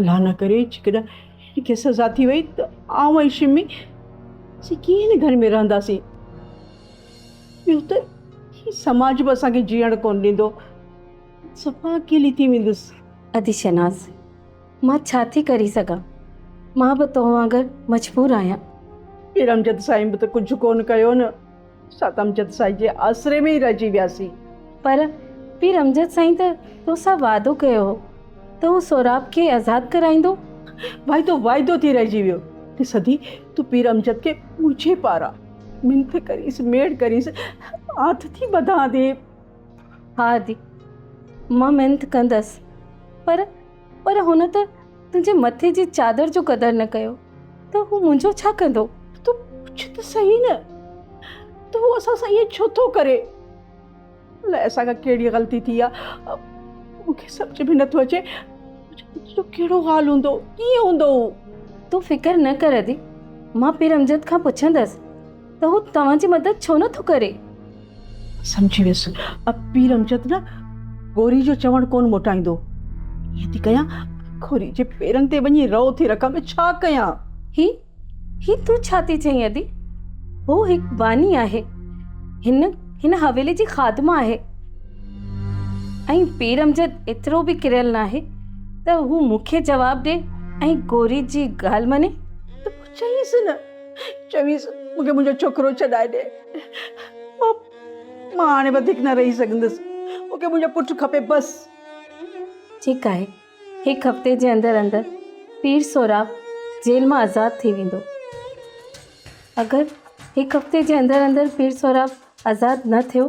الله نه ڪري جيڪڏهن هن کي سزا ٿي وئي ته آئون ۽ شمي اسين ڪيئن هن گهر ۾ رهنداسين ٻيو ته هي سماج به اسان کي جيئڻ ڪونه ڏيندو صفا اڪيلي ٿي ويندس ادي شناز مان ڇا ٿي ڪري سگهان مان به تو وانگر مجبور آهيان ارمجد سائين به ته ڪجهه ڪونه ڪيو نه اسان ته امجد سائين جي آسري ۾ ئي رهجي وياسين. پر پير امجد سائين ته تو سان وعدو ڪيو هو ته هو سهراب کي آزاد ڪرائيندو. وعدو وعدو ٿي رهجي ويو. ته سڌي تون پير امجد کي منهنجي پاران منٿ ڪريس، ميڙ ڪريس، آنت ٿي ٻڌان ٿي. ها ادي، مان منٿ ڪندس، پر. پر هن ته تنهنجي مٿي جي چادر جو قدر نه ڪيو ته هو منهنجو ڇا ڪندو؟ تون پڇ ته صحيح نه ته هو اسان سان ائين ڇو ٿو ڪري؟ الائي اسان کان ڪهڙي غلطي ٿي آهي؟ مون کي سمجهه ۾ نٿو اچي تنهنجو ڪهڙو حال هوندو؟ ڪيئن هوندو هو؟ تون فڪر نه ڪر ادي، مان پير امجد کان پڇندس ته هو توهان جي مدد ڇو نٿو ڪري؟ سمجهي ويس. اب پير امجد نه گوري جو چوڻ ڪونه موٽائيندو. ائين ٿي ڪيان گوري جي پيرن تي وڃي رئو ٿي رکان ٻيو ڇا ڪيان. هي هي تون ڇا ٿي چئين ادي. هو هڪ باني آهي. هن هن حويلي جي خادمه آهي. ۽ پير امجد ايترو به ڪريل ناهي ته هو مون کي جواب ڏي ۽ گوري جي ڳالهه مڃي. ته پوء چئيس نه. چويس مون کي منهنجو ڇوڪرو ڇڏائي ڏي مان مان هاڻي وڌيڪ نه رهي سگهندس مون کي منهنجو پٽ کپي بس. ٺيڪ آهي هڪ هفتي جي اندر اندر پير سهراب جيل مان آزاد ٿي ويندو اگر هڪ هفتي جي اندر اندر پير سهراب آزاد نه ٿيو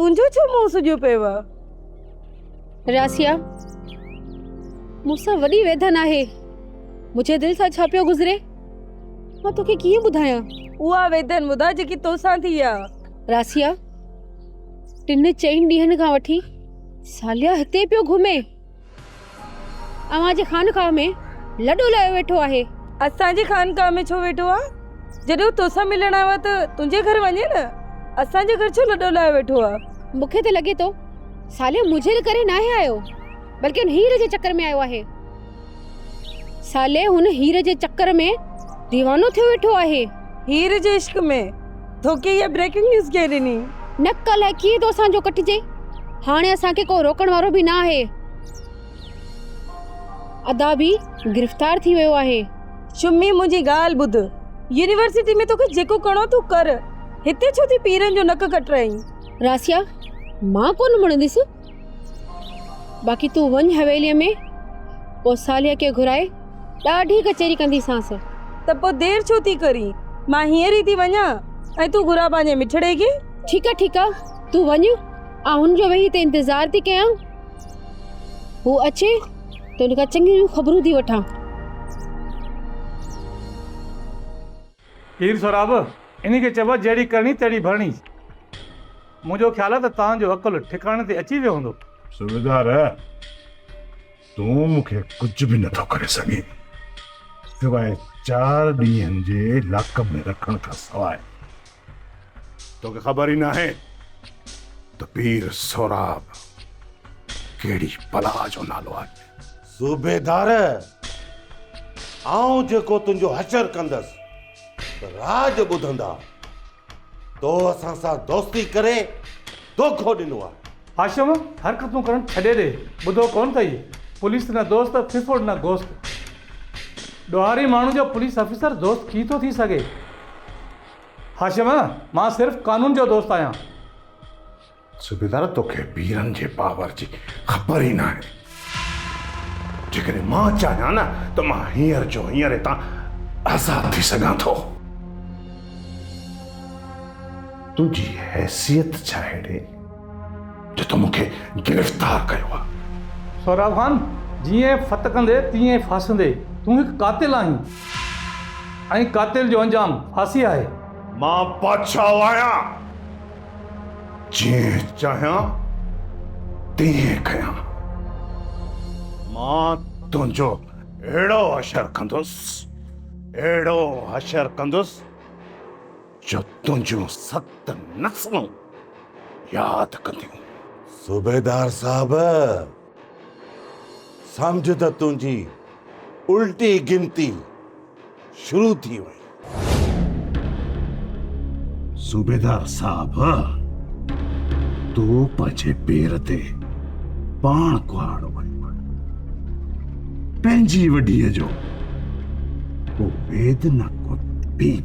تنهنجو ڇو منهن سجيو پيو آ راسيا مون سان وڏي ويڌن آهي منهنجي دل سان ڇا پيو گذري مان توکي ڪيئن ٻڌايان اها ويڌن ٻڌا جيڪي توسان ٿي آ راسيا ٽن چئن ڏينهن کان وٺي ساليا هتي پيو گهمي اوهان جي خانقاهه ۾ لڏو لايو ويٺو آهي. اسان جي خانقاهه ۾ ڇو ويٺو آهي؟ جڏهن هو تو سان ملڻ آيو آهي ته تنهنجي گهر وڃي نه. اسان جي گهر ڇو لڏو لايو ويٺو آهي؟ مون کي ته لڳي ٿو صالح مجهيل ڪري ناهي آيو، بلڪه هن هير جي چڪر ۾ آيو آهي. صالح هن هير جي چڪر ۾ ديوانو ٿيو ويٺو آهي. هير جي عشق ۾ ٿوڪي هيء بريڪنگ نيوز ڪنهن ڏني؟ نڪ الائي ڪيئن ٿو اسان جو ڪٽجي. هاڻي اسان کي ڪو روڪڻ وارو به نه آهي. ادا به گرفتار ٿي ويو آهي. شمي منهنجي ڳالهه ٻڌ. يونيورسٽي ۾ توکي جيڪو ڪرڻو اٿو ڪر. هتي ڇو ٿي پيرن جو نڪ ڪٽرائين. راسيا مان ڪونه مڙنديس. باقي تون وڃ حويليء ۾ پوء صالح کي گهرائي ڏاڍي ڪچهري ڪنديسانس. ته پوء دير ڇو ٿي ڪرين؟ مان هينئر ئي ٿي وڃان ۽ تون گهراء پنهنجي مٺڙي کي. ٺيڪ آ ٺيڪ آ تون وڃ آئون هن جو ويهي هتي انتظار ٿي ڪيان. هو اچي ته هن کان چڱيون خبرون ٿي وٺان. پير سهراب، انهي کي چئبو آهي جهڙي ڪرڻي تهڙي ڀرڻي. منهنجو خيال آهي ته توهان جو عقل ٺڪاڻي تي اچي ويو هوندو. صوبيدار، تون مون کي ڪجهه به نه ٿو ڪري سگهين، سواء چار ڏينهن جي لاڪ اپ ۾ رکڻ کان سواء. توکي خبر ئي ناهي ته پير سهراب ڪهڙي بلا جو نالو آهي. صوبيدار! آئون جيڪو تنهنجو حشر ڪندس ته راڄ ٻڌندا. تو اسان سان دوستي ڪري دوکو ڏنو آهي. هاشم، حرڪتون ڪرڻ ڇڏي ڏي. ٻڌو ڪونه اٿئي، پوليس نه دوست، ڦڦوڙ نه گوست. ڏوهاري ماڻهو جو پوليس آفيسر دوست ڪي ٿو ٿي سگهي؟ هاشم، مان صرف قانون جو دوست آهيان. صوبيدار توکي پيرن جي پاور جي خبر ئي ناهي. جيڪڏهن مان چاهيان نه ته مان هينئر جو هينئر هتان آزاد ٿي سگهان ٿو. تنهنجي حيثيت ڇا اهڙي جو تو مونکي گرفتار ڪيو آهي. سهراب خان جيئن ڦٿڪندي تيئن ڦاسندي. تون هڪ قاتل آهين ۽ قاتل جو انجام ڦاسي آهي. مان بادشاهه آهيان. جيئن چاهيان تيئن ڪيان. مان تنهنجو اهڙو حشر ڪندس، اهڙو حشر ڪندس جو تنهنجون ست نسلون ياد ڪنديون. صوبيدار صاحب، سمجهه ته تنهنجي الٽي گنتي. شروع ٿي وئي. صوبيدار صاحب! تون پنهنجي پير تي پاڻ ڪهاڙو آهين. پنهنجي وڍيء جو ڪو ويد نه ڪو ٽيب.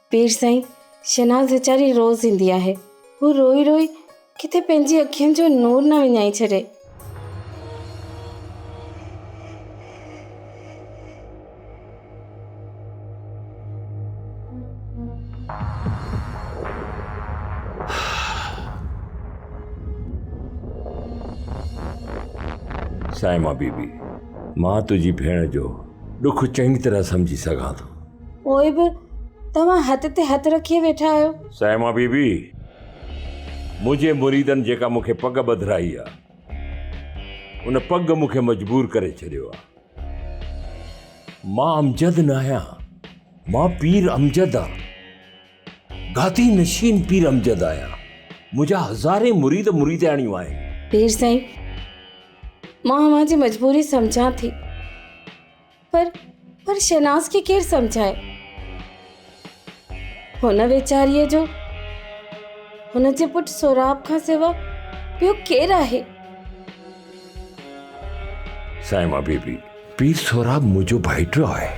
پير سائين، شهناز ويچاري روز ايندي آهي. هو روئي روئي ڪٿي پنهنجي اکين جو نور نه وڃائي ڇڏي. صائمه بيبي، مان تنهنجي ڀيڻ جو ڏک چڱي طرح سمجهي سگهان ٿو. پوء به توهان هٿ تي هٿ رکي ويٺا آهيو. صائمه بي بي، منهنجي مريدن جيڪا مون کي پڳ ٻڌرائي آ، ان پڳ مون کي مجبور ڪري ڇڏيو آ. مان امجد نه آهيان، مان پير امجد آ. گادي نشين پير امجد آهيان. منهنجا هزارين مريد مريدياڻيون آهن. پير سائين، مان اوهان جي مجبوري سمجهان ٿي. پر پر شهناز کي ڪير سمجهائي هن ويچاريء جو هن جي پٽ سوراب کان سوا ٻيو ڪير آهي سائما بيبي پير سوراب منهنجو ڀائٽو آهي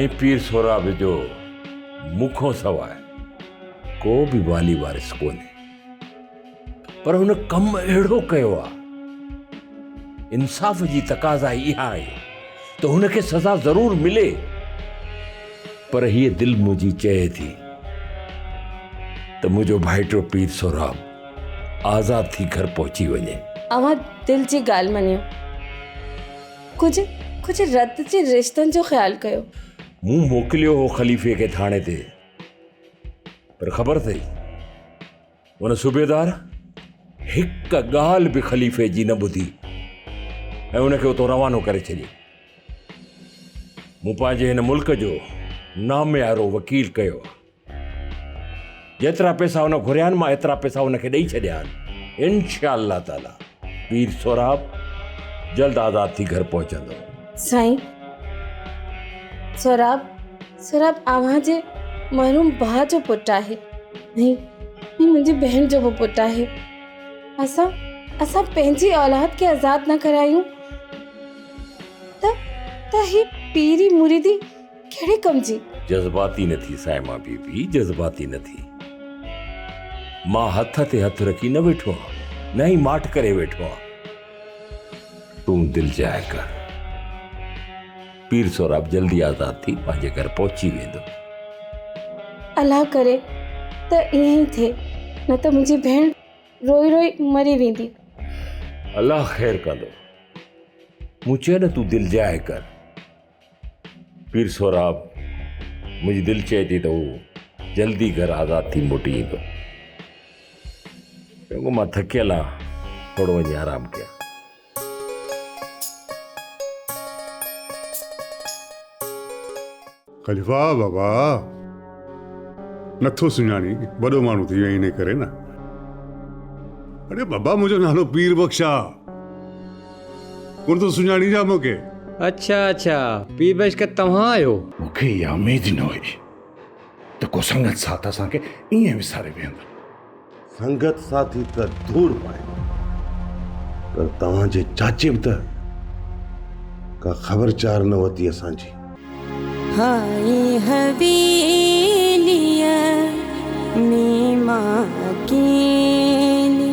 ۽ پير سوراب جو مون کان سواء ڪو به والي وارث ڪونهي پر هن ڪم اهڙو ڪيو آهي انصاف جي تقاضا اها آهي ته هن کي سزا ضرور ملي پر هيء دل منهنجي چئي ٿي ته منهنجو ڀائٽو پير سهراب آزاد ٿي گهر پهچي وڃي اوهان دل جي ڳالهه مڃيو ڪجهه ڪجهه رت جي رشتن جو خيال ڪيو مون موڪليو هو خليفي کي ٿاڻي تي پر خبر اٿئي هن صوبيدار هڪ ڳالهه به خليفي جي نه ٻڌي ۽ ان کي اتو روانو ڪري ڇڏيو مون پنهنجي هن ملڪ جو ناميارو وڪيل ڪيو جيترا پيسا هن گهريا آهن مان ايترا پيسا هن کي ڏئي ڇڏيا آهن انشاء الله تعاليٰ پير سهراب جلد آزاد ٿي گهر پهچندو سائين سهراب سهراب اوهان جي محروم ڀاء جو پٽ آهي ۽ منهنجي بهن جو به پٽ آهي اسان اسان پنهنجي اولاد کي آزاد نه ڪرايون ته ته هي پيري مريدي ڪهڙي ڪم جي؟ جذباتي نه ٿي صائمه بي بي جذباتي نه ٿي. مان هٿ تي هٿ رکي نه ويٺو آهيان نه ئي ماٺ ڪري ويٺو آهيان. تون دل جاء ڪر. پير سهراب جلدي آزاد ٿي پنهنجي گهر پهچي ويندو. الله ڪري ته ائين ئي ٿئي نه ته منهنجي ڀيڻ روئي روئي مري ويندي. الله خير ڪندو. مون چيو نه تون دل جاء ڪر. پير سهراب، منهنجي دل چئي ٿي ته هو جلدي گهر آزاد ٿي موٽي ايندو. چڱو مان ٿڪيل آهيان، ٿورو وڃي آرام ڪيان. خليفا، بابا نه ٿو سڃاڻين، وڏو ماڻهو ٿي ويو انهيء ڪري نه. اڙي بابا منهنجو نالو پير بخش آهي. ڪونه ٿو سڃاڻين ڇا مون کي؟ اڇا اڇا پير بيشڪ توهان آهيو. مون کي اها اميد ئي نه هئي ته ڪو سنگت ساٿ اسان کي ائين وساري ويهندو. سنگت ساٿي ته دور پايو پر توهان جي چاچي به ته ڪا خبر چار نه ورتي اسان جي. هائي حويليء ۾ مان اڪيلي.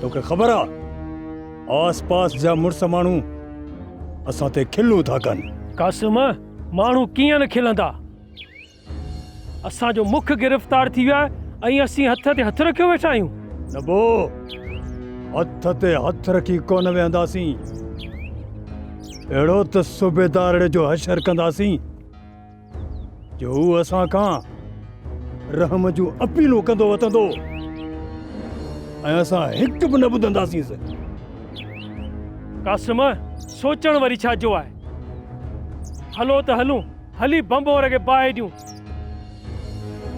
توکي خبر آ آس پاس جا مڙس ماڻهو اسان تي کلون ٿا ڪن. قاسم ماڻهو ڪيئن نه کلندا. اسان جو مک گرفتار ٿي ويو آهي ۽ اسين هٿ تي هٿ رکيو ويٺا آهيون. نه بو هٿ تي هٿ رکي ڪونه ويهنداسين. اهڙو ته صوبيدارڙي جو حشر ڪنداسين. جو هو اسان کان رحم جون اپيلون ڪندو وتندو ۽ اسان هڪ به نه ٻڌنداسينس. قاسم، سوچڻ وري ڇا جو آهي. هلو ته هلون، هلي بمبور کي باهه ڏيون.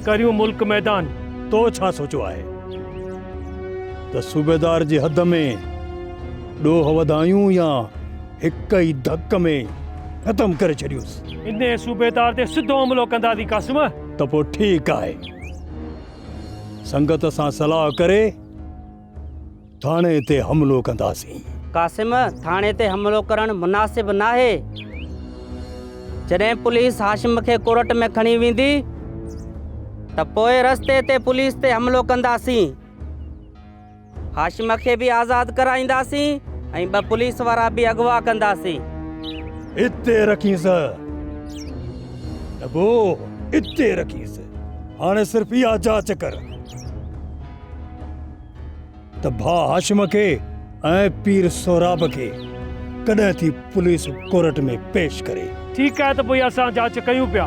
ڪريون ملڪ ميدان. تو ڇا سوچيو آهي ته صوبيدار جي حد ۾ ڏوهه وڌايون يا هڪ ئي ڌڪ ۾ ختم ڪري ڇڏيوس. انهيء صوبيدار تي سڌو حملو ڪنداسين قاسم. ته پوء ٺيڪ آهي. سنگت سان صلاح ڪري ٿاڻي تي حملو ڪنداسين. قاسم، ٿاڻي تي حملو ڪرڻ مناسب ناهي. جڏهن پوليس هاشم کي ڪورٽ ۾ کڻي ويندي ته پوء رستي تي پوليس تي حملو ڪنداسين. هاشم کي به آزاد ڪرائينداسين ۽ ٻه پوليس وارا به اغوا ڪنداسين. اتي رکيس ڏبو اتي رکيس هاڻي صرف اها جاچ ڪر ته ڀاء هاشم کي ۽ پير سهراب کي ڪڏهن ٿي پوليس ڪورٽ ۾ پيش ڪري. ٺيڪ آهي ته پوء اسان جاچ ڪيون پيا.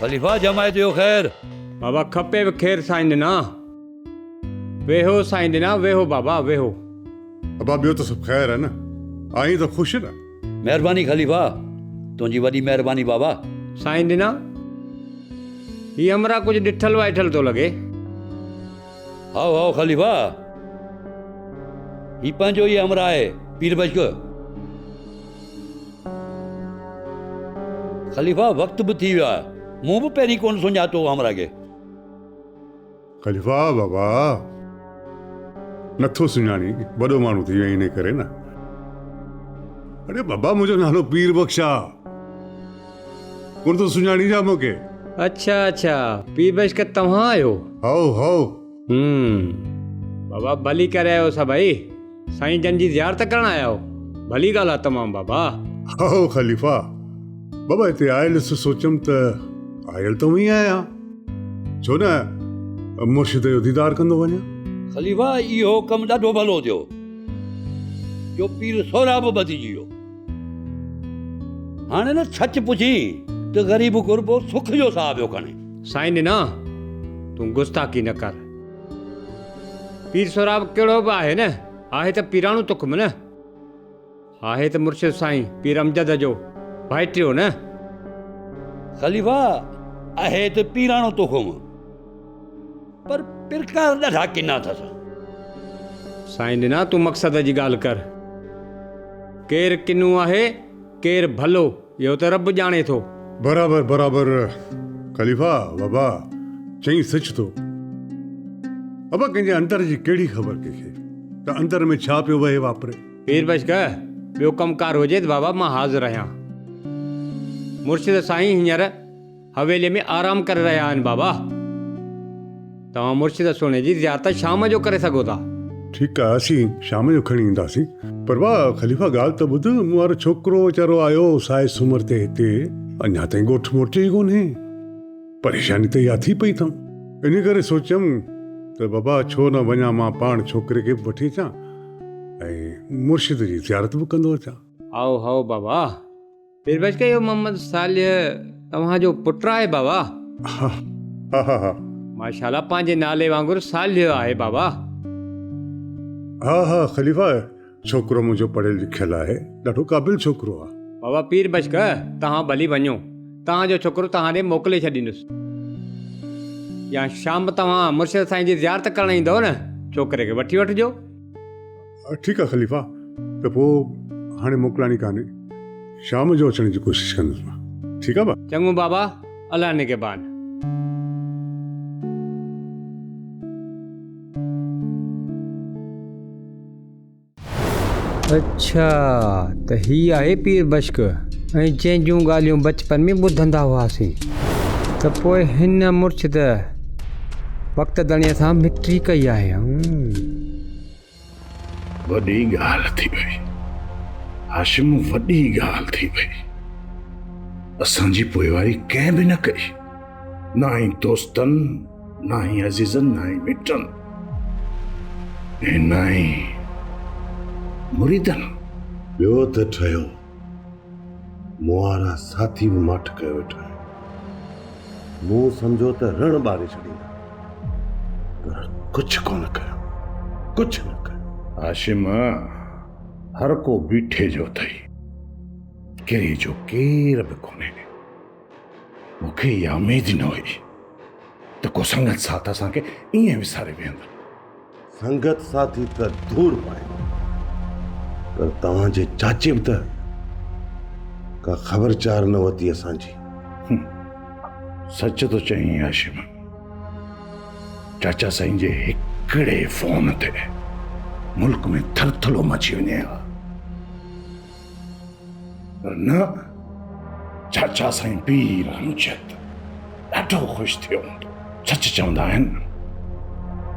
خليفا ڄمائي ٿيو خير. بابا کپيو خير سائين ڏنا. ويهو سائين ڏنا ويهو بابا ويهو. ابا ٻيو ته سڀ خير آهي نه. آهين ته خوش نه. مهرباني خليفا تنهنجي وڏي مهرباني بابا. سائين ڏنا هي همراهه ڪجهه ڏٺل وائٺل ٿو لڳي. هائو هائو خليفا هي پنهنجو ئي همراهه آهي پير بشڪ. خليفا وقت به ٿي ويو آهي. مون به پهرين ڪونه سڃاتو همراهه کي. خليفا بابا نه ٿو سڃاڻين وڏو ماڻهو ٿي ويئي انهي ڪري نه. اڙي بابا منهنجو نالو پير بخش آ ڪونه ٿو سڃاڻين ڇا مون کي. اڇا اڇا پير بخش ڪ توهان آهيو. هائو هائو. هم بابا ڀلي ڪري آيو سڀئي. سائين جن جي زيارت ڪرڻ آيا آهيو ڀلي ڳالهه آهي تمام بابا. هائو خليفا بابا هتي آيل سو سوچيم ته آيل ته اوهين آهيان ڇو نه مرشد جو ديدار ڪندو وڃان. خليفا اهو ڪم ڏاڍو ڀلو ٿيو جو پير سهراب ٻڌجي ويو. هاڻي نه سچ پڇين ته غريب غربو سک جو ساهه پيو کڻي. سائين ڏنا تون گستاخي نه ڪر. پير سهراب ڪهڙو به آهي نه آهي ته پيراڻو تخم نه آهي ته مرشد سائين پير امجد جو ڀائٽيو نه. خليفا آهي ته پيراڻو تخم پر پرکا ڏاڍا ڪنا اٿس. سائين ڏنا تون مقصد جي ڳالهه ڪر ڪير ڪنو آهي ڪير ڀلو. اهو ته رب ڄاڻي ٿو. برابر برابر خليفا بابا چئين سچ ٿو. بابا ڪنهن جي اندر جي ڪهڙي خبر ڪنهن کي ته اندر ۾ ڇا پيو وهي واپري. پير بشڪ ٻيو ڪم ڪار هجي ته بابا مان حاضر آهيان. مرشد سائين هينئر. حويليء ۾ آرام ڪري رهيا آهن بابا. توهان مرشد سهڻي جي زيارت شام جو ڪري سگهو ٿا. ٺيڪ آهي اسين شام جو کڻي اينداسين. پر واء خليفه ڳالهه ته ٻڌ مون وارو ڇوڪرو ويچارو آيو سائي سومر تي هتي اڃا تائين ڳوٺ موٽيو ئي ڪونهي. پريشاني ته اها ٿي پئي ٿم. انهي ڪري سوچيم ته بابا ڇو نه وڃان مان پاڻ ڇوڪري کي به وٺي اچان ۽ مرشد جي زيارت به ڪندو اچان. هائو هائو بابا پير بخش ڪيو محمد صالح توهان جو پٽ آهي بابا. ها ها ها ها. ماشاء الله پنهنجي نالي وانگر صالح آهي بابا. ها ها خليفا ڇوڪرو منهنجو پڙهيل لکيل آهي ڏاڍو قابل ڇوڪرو آهي. بابا پير بخش توهان ڀلي وڃو توهان جو ڇوڪرو توهان ڏي موڪلي ڇڏيندس يا شام توهان مرشد سائين جي زيارت ڪرڻ ايندؤ نه ڇوڪري کي وٺي وٺجو. ٺيڪ آ خليفا ته پوء هاڻي موڪلائڻي ڪانهي شام جو اچڻ جي ڪوشش ڪندس مان ٺيڪ آ. چڱو بابا الله نگهبان. اڇا ته هي آهي پير بشڪ ۽ جنهن جون ڳالهيون بچپن ۾ ٻڌندا هئاسين ته پوء هن مرڇد وقت ڌڻيء سان مٽري ڪئي آهي. وڏي ڳالهه ٿي وئي هاشم وڏي ڳالهه ٿي وئي اسان جي پوئواري ڪنهن به نه ڪئي نه هي دوستن نه هي عزيزن نه هي مٽن ۽ نه هي مريدن ٻيو ته ٺهيو مون وارا ساٿي به ماٺ ڪيو ويٺا آهن. مون سمجهيو ته رڻ ٻاري ڇڏيندا پر ڪجهه ڪونه ڪيو، ڪجهه نه ڪيو. هاشم، هر ڪو بيٺي جو اٿئي، ڪري جو ڪير به ڪونهي. مونکي اها اميد ئي نه هئي ته ڪو سنگت ساٿ اسان کي ائين وساري ويهندو. سنگت ساٿي ته دور پايو پر توهان جي چاچي به ته ڪا خبر چار نه ورتي اسان جي. سچ ٿو چئين هاشم. چاچا سائين جي هڪڙي فون تي ملڪ ۾ ٿرٿلو مچي وڃي ها. پر نه، چاچا سائين پير امجد ڏاڍو خوش ٿيو هوندو. سچ چوندا آهن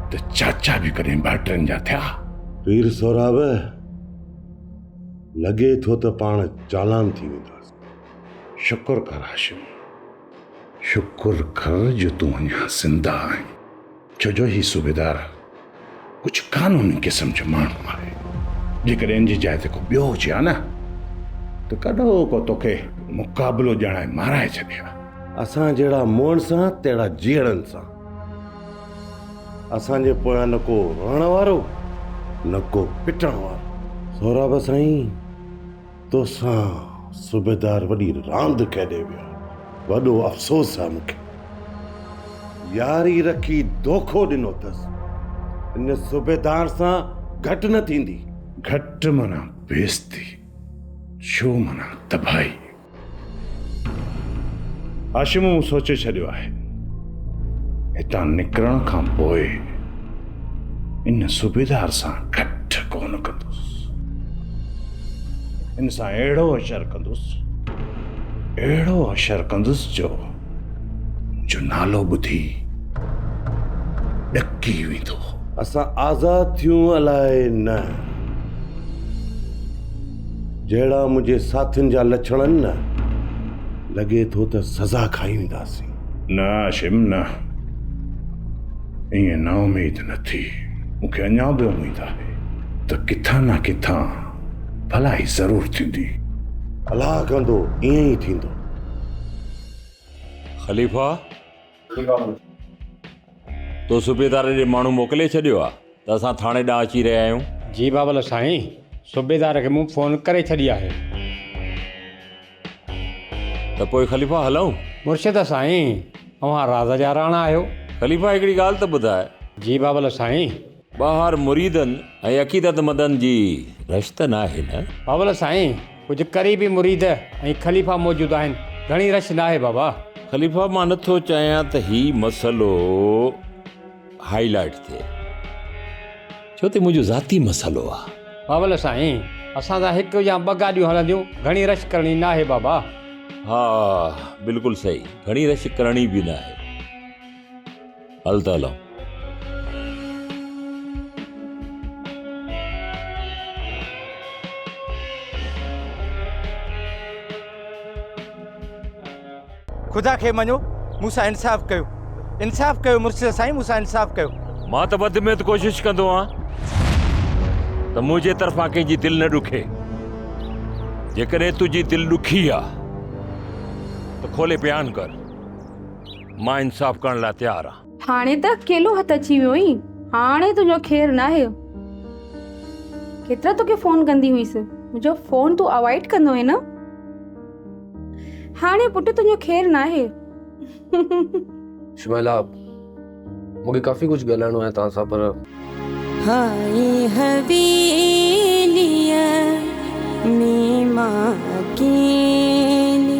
ته چاچا به ڪڏهن ٻهٽرن جا ٿيا. پير سهراب، لڳي ٿو ته پاڻ چالان ٿي وينداس. شڪر ڪر هاشم، شڪر ڪر جو تون اڃا زنده آهين. ڇو جو هي صوبيدار ڪجهه قانوني قسم جو ماڻهو آهي جيڪڏهن ان جي جاء تي ڪو ٻيو هجي ها نه ته ڪڏو ڪو توکي مقابلو ڄاڻائي مارائي ڇڏي ها اسان جهڙا موئن سان تهڙا جيئڙن سان اسان جي پويان نه ڪو رئڻ وارو نه ڪو پٽڻ وارو سهراب سائين توسان صوبيدار وڏي راند کيڏي ويو وڏو افسوس آ مونکي ياري رکي دوکو ڏنو اٿس ان صوبيدار سان گهٽ نه ٿيندي. گهٽ معنيٰ بيزتي ڇو معنيٰ تباهي. هاشم مون سوچي ڇڏيو آهي. هتان نڪرڻ کان پوء ان صوبيدار سان ڪٺ ڪونه ڪندس. ان سان اهڙو اشر ڪندس، اهڙو اشر ڪندس جو جو نالو ٻڌي ڏڪي ويندو. اسان آزاد ٿيون الاء نه. جهڙا منهنجي ساٿين جا لڇڻ آهن نه، لڳي ٿو ته سزا کائي وينداسين. نه هاشم نه. ائين نااميد نه ٿي. مون کي اڃا به اميد آهي ته ڪٿان نه ڪٿان ڀلائي ضرور ٿيندي. الله ڪندو ائين ئي ٿيندو. خليفا! تو صوبيدار ڏي ماڻهو موڪلي ڇڏيو آ ته اسان ٿاڻي ڏانهن اچي رهيا آهيون. جي بابل سائين، صوبيدار کي مون فون ڪري ڇڏي آهي. ته پوء خليفا هلئون؟ مرشد سائين، اوهان راز جا راڻا آهيو. خليفا هڪڙي ڳالهه ته ٻڌاء. جي بابل سائين، ٻاهر مريدن ۽ عقيدتمندن جي رش ته ناهي نه؟ بابل سائين ڪجهه قريبي مريد ۽ خليفا موجود آهن گهڻي رش ناهي بابا. خليفا مان نه ٿو چاهيان ته هي مسئلو هائي لائيٽ ٿئي ڇو ته منهنجو ذاتي مسئلو آهي. بابل سائين اسان سان هڪ يا ٻه گاڏيون هلنديون گهڻي رش ڪرڻي ناهي بابا. ها بلڪل صحيح گهڻي رش ڪرڻي به ناهي. هل ته هلون. خدا کي مڃو مون سان انصاف ڪيو. انصاف ڪيو مرشد سائين مون سان انصاف ڪيو. مان ته بدميت ڪوشش ڪندو آهيان ته منهنجي طرفان ڪنهن جي دل نه ڏکي. جيڪڏهن تنهنجي دل ڏکي آهي ته کولي بيان ڪر. مان انصاف ڪرڻ لاء تيار آهيان. هاڻي ته اڪيلو هٿ اچي ويو آهين. هاڻي تنهنجو خير ناهي. ڪيترا توکي فون ڪندي هئيس. منهنجو فون تون اوائڊ ڪندو هئين نه. هاڻي پٽ تنهنجو خير ناهي. شميلا مون کي ڪافي ڪجهه ڳالهائڻو آهي توهان سان پر. هائي حويليء ۾ مان اڪيلي.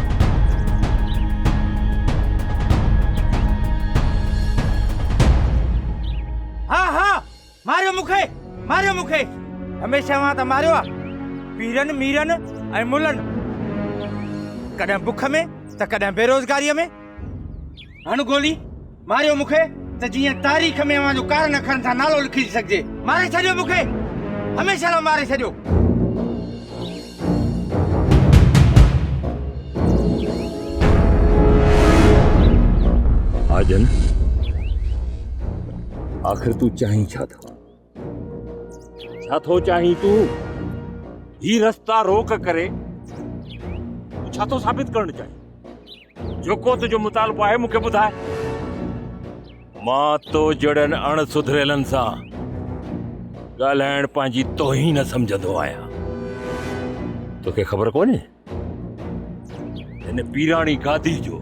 ها ها ماريو مون کي ماريو مون کي هميشه اوهان ته ماريو آ پيرن ميرن ۽ ملن ڪڏهن بک ۾ ته ڪڏهن بيروزگاريء ۾ هڻ گولي، ماريو مون کي ته جيئن تاريخ ۾ اوهان جو ڪارن اکرن سان نالو لکجي سگهجي. ماري ڇڏيو مون کي، هميشه لاء ماري ڇڏيو. آجن، آخر تون چاهين ڇا ٿو؟ ڇا ٿو چاهين تون هي رستا روڪ ڪري ڇا ٿو ثابت ڪرڻ چاهين جيڪو تنهنجو مطالبو آهي مونکي ٻڌاء مان تو جڙن اڻ سڌريلن سان ڳالهائڻ پنهنجي توهين سمجهندو آهيان توکي خبر ڪونهي هن پيراڻي گادي جو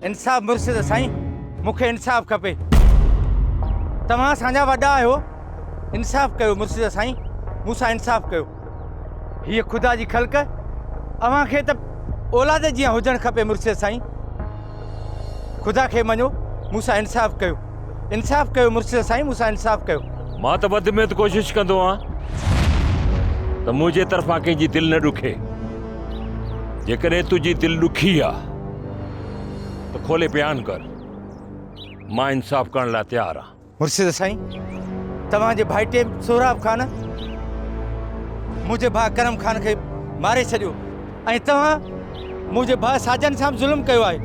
انصاف مرشد سائين مون کي انصاف کپي توهان اسان جا وڏا آهيو انصاف ڪيو مرشد سائين مون سان انصاف ڪيو هيء خدا جي خلق اوهان کي ته اولاد جيان هجڻ کپي مرشد سائين خدا کي مڃو مون سان انصاف ڪيو انصاف ڪيو مرشد سائين مون سان انصاف ڪيو مان ته وڌ ۾ وڌ ڪوشش ڪندو آهيان ته منهنجي طرفان ڪنهن جي دل نه ڏکي جيڪڏهن تنهنجي دل ڏکي آ ته کولي بيان ڪر، مان انصاف ڪرڻ لاء تيار آهيان. مرشد سائين توهان جي ڀائٽي سهراب خان منهنجي ڀاء ڪرم خان کي ماري ڇڏيو ۽ توهان منهنجي ڀاء ساجن سان به ظلم ڪيو آهي.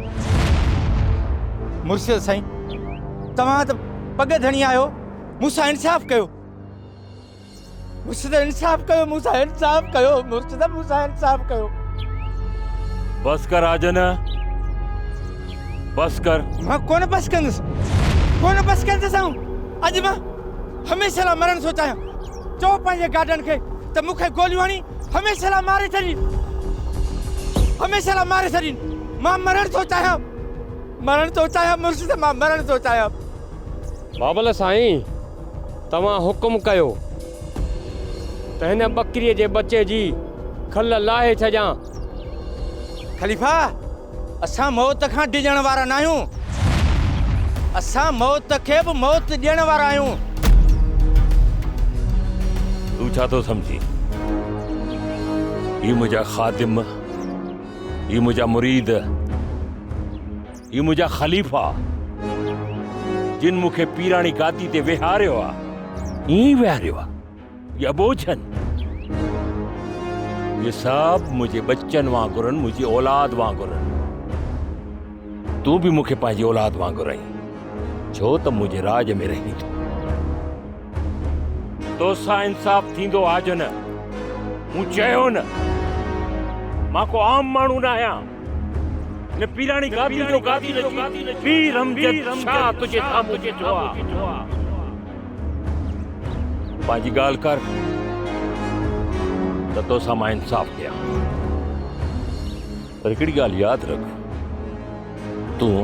مرشد سائين توهان ته پڳ ڌڻي آهيو مون سان انصاف ڪيو. مرشد انصاف ڪيو مون سان انصاف ڪيو مرشد مون سان انصاف ڪيو. بس ڪر آجن بس ڪر. مان ڪونه بس ڪندس ڪونه بس ڪندس آئون اڄ مان هميشه لا مرڻ ٿو چاهيان چو پنهنجي گاڏن کي ته مون کي گوليون هڻي هميشه لا ماري ڇڏي هميشه لا ماري ڇڏي مان مرڻ ٿو چاهيان مرڻ ٿو چاهيان مرشد مان مرڻ ٿو چاهيان بابل سائين توهان حڪم ڪيو ته هن ٻڪريء جي ٻچي جي کل لاهي ڇڏيان. خليفا! اسان موت کان ڊڄڻ وارا ناهيون. اسان موت کي به موت ڏيڻ وارا آهيون. تون ڇا ٿو سمجهين؟ هي منهنجا خادم، هي منهنجا مريد. هي منهنجا خليفا، جن مون کي پيراڻي گادي تي ويهاريو آ، ائين ئي ويهاريو آ يا ٻوجهن. اهي سڀ منهنجي ٻچن وانگرن، منهنجي اولاد وانگرن. تون به مون کي پنهنجي اولاد وانگر آهين، ڇو ته منهنجي راڄ ۾ رهين ٿو. تو سان انصاف ٿيندو آ جو نه؟ مون چيو نه، مان ڪو عام ماڻهو نه آهيان. هن پيراڻي گاديء جو گادي رچي پير امجد شاهه تنهنجي سامهون بيٺو آ. پنهنجي ڳالهه ڪر ته تو سان مان انصاف ڪيان. پر هڪڙي ڳالهه ياد رک، تون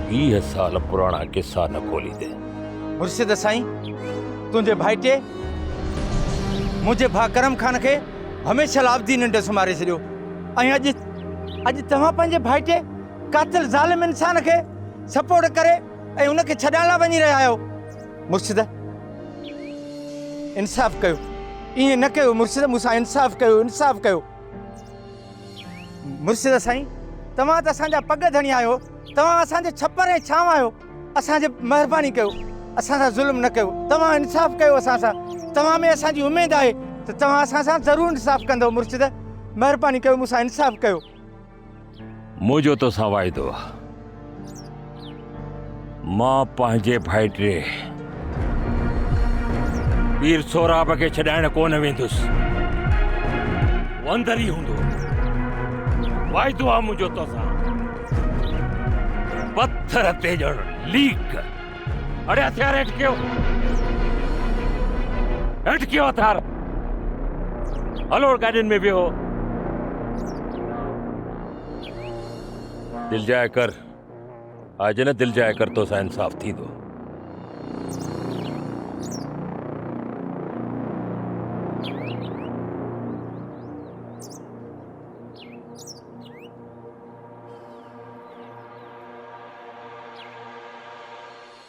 ويهه سال پراڻا قصا نه کوليندين. مرشد سائين تنهنجي ڀائٽي منهنجي ڀاء ڪرم خان کي هميشه لا ابدي ننڊ سمهاري ڇڏيو ۽ اڄ اڄ توهان پنهنجي ڀائٽي قاتل ظالم انسان کي سپورٽ ڪري ۽ ان کي ڇڏائڻ لا وڃي رهيا آهيو مرشد انصاف ڪيو ائين نه ڪيو مرشد مون سان انصاف ڪيو انصاف ڪيو مرشد سائين توهان ته اسان جا پڳ ڌڻي آهيو توهان اسان جو ڇپر ۽ ڇانو آهيو اسان جي مهرباني ڪيو اسان سان ظلم نه ڪيو توهان انصاف ڪيو اسان سان توهان ۾ اسان جي اميد آهي ته توهان اسان سان ضرور انصاف ڪندو مرشد مهرباني ڪيو مون سان انصاف ڪيو منهنجو تو سان واعدو مان پنهنجي ڀائٽي وير سهراب کي ڇڏائڻ ڪونه ويندس هو اندر ئي هوندو واعدو آ منهنجو توسان پٿر تي ڄڻ ليڪ اڙي هٿيار هيٺ ڪيو هيٺ ڪيو هٿيار هلو گاڏين ۾ ويهو دل جاء ڪر آء جنھن دل جاء ڪر تو سان انصاف ٿيندو.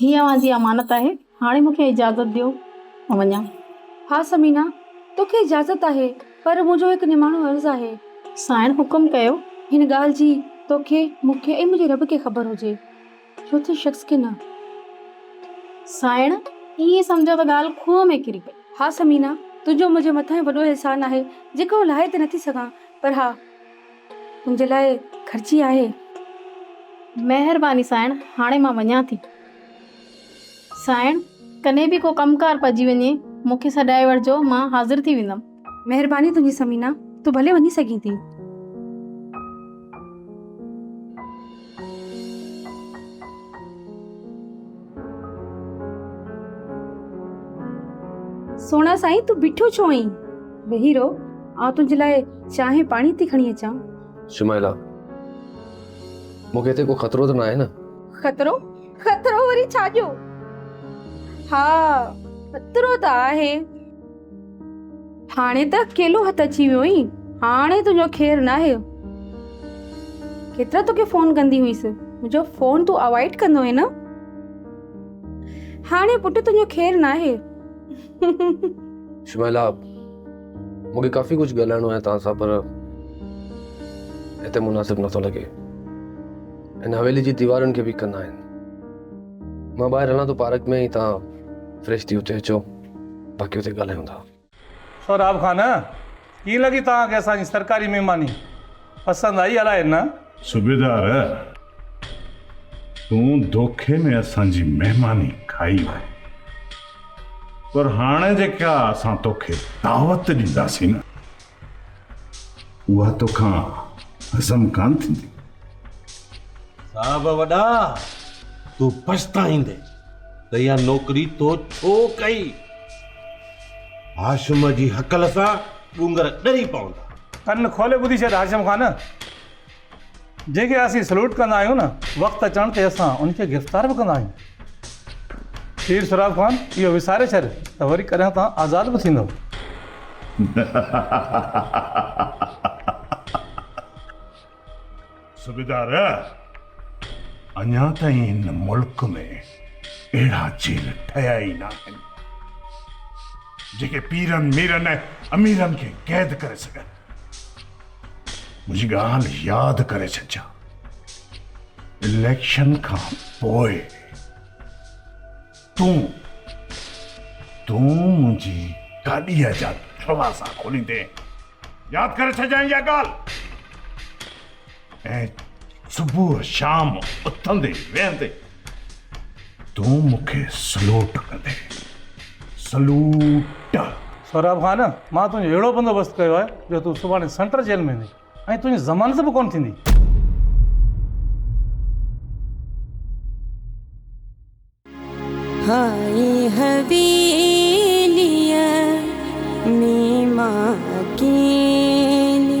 هي اوهان جي امانت آهي. هاڻي مون کي اجازت ڏيو مان وڃان. ها ثمينه، تو کي اجازت آهي، پر منهنجو هڪ نماڻو عرض آهي. سائڻ حڪم ڪيو. هن ڳالهه جي تو کي، مون کي ۽ منهنجي رب کي خبر هجي. چوٿين شخص کي نه. سائڻ، ائين سمجهو ته ڳالهه کوهه ۾ ڪري پئي. ها ثمينه، تنهنجو منهنجي مٿان وڏو احسان آهي، جيڪو آئون لاهي ته نٿي سگهان، پر ها! تنهنجي لاء خرچي آهي. مهرباني سائڻ هاڻي مان وڃان ٿي. سائڻ! ڪڏهن به ڪو ڪم ڪار پئجي وڃي مون کي سڏائي وٺجو مان حاضر ٿي ويندم. مهرباني تنهنجي ثمينه تون ڀلي وڃي سگهين ٿي. سهڻا سائين تون بيٺو ڇو آهين ويهي رهو آئون تنهنجي لاء چانهه ۽ پاڻي ٿي کڻي اچان شمائلا مون کي هتي ڪو خطرو ته نه آهي نه خطرو خطرو وري ڇا جو ها خطرو ته آهي هاڻي ته اڪيلو هٿ اچي ويو آهين هاڻي تنهنجو خير ناهي ڪيترا توکي فون ڪندي هئيس منهنجو فون تون اوائڊ ڪندو هين هاڻي پٽ تنهنجو خير ناهي شميلا مونکي ڪافي ڪجهه ڳالهائڻو آهي توهان سان پر هتي مناسب نٿو لڳي ان حويلي جي ديوارن کي به ڪندا آهن مان ٻاهر هلان ٿو پارڪ ۾ ۽ توهان فريش ٿي اتي اچو باقي اتي ڳالهايون ٿا. سهراب خان، ڪيئن لڳي توهان کي اسان جي سرڪاري مهماني؟ پسند آئي الائي نه؟ صوبيدار، تون دوکي ۾ اسان جي مهماني کائي آهي، پر هاڻي جيڪا اسان توکي دعوت ڏينداسين نه، اها توکان هضم ڪان ٿيندي صاحب وڏا تون پڇتائيندي ته اها نوڪري تو ڇو ڪئي هاشم جي هڪل سان ڏونگر ڏري پوندا ڪن کولي ٻڌي ڇڏ هاشم خان جنهن کي اسين سلوٽ ڪندا آهيون نه وقت اچڻ تي اسان ان کي گرفتار به ڪندا آهيون. پير سهراب خان اهو وساري ڇڏ ته وري ڪڏهن تان آزاد به ٿيندو. صوبيدار اڃا تائين هن ملڪ ۾ اهڙا جيل ٺهيا ئي ناهن جيڪي پيرن ميرن ۽ اميرن کي قيد ڪري سگهن. منهنجي ڳالهه ياد ڪري ڇڏجان اليڪشن کان پوء تون تون منهنجي گاڏيء جا دروازا کوليندين ياد ڪري ڇڏجان اها ڳالهه ۽ صبح شام اٿندي ويهندي تون مون کي سلوٽ ڪندين. سلوٽ! سهراب خان، مان تنهنجو اهڙو بندوبست ڪيو آهي جو تون سڀاڻي سينٽر جيل ۾ ويندين ۽ تنهنجي ضمانت به ڪونه ٿيندي. هائي حويليء ۾ مان اڪيلي.